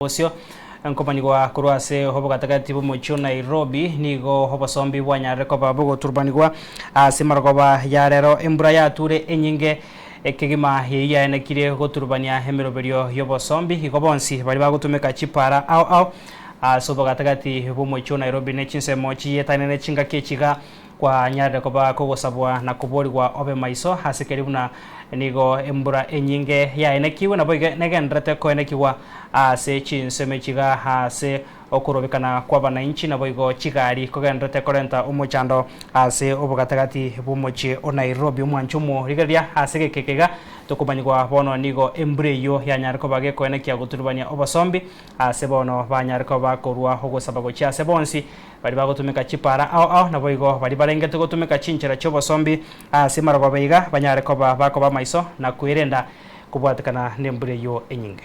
Bosio, Nkobanigwa korwa ase obogatagati bw'omochie o Nairobi, nigo obosombi bwanyarire koba bogoturubanigwa ase marogoba ya rero. Embura yature enyinge kegima eyio yaenekire goturubania emeroberio y'obosombi. Igo bonsi baria bagotumeka chipaara ao ao ase obogatagati bw'omochie o Nairobi ne chinsemo chiyetaine ne chingaki echi iga. Kwanyarire koba kogosabwa na koborigwa obe maiso ase keria buna nigo embura enyinge yaenekigwe, naboigo negendererete koenekigwa ase chinsemi chiga ase okorobikana kw'abanainchi, naboigo chigari kogendererete korenta omochando ase obogatagati bw'omochie o Nairobi. Omwanche omo, rigereria, ase egekeke iga tokomanyigwa bono nigo embura eyio yanyare koba gekoenekia goturubania obosombi ase bono banyare koba bakorua ogosaba gochia ase bonsi, Baria bagotumeka chipaara ao ao naboigo baria barengete gotumeka chinchera chi'obosombi ase marogobe iga banyare koba bakoba amaiso na kwerenda kobwatekana nembura eyio enyinge.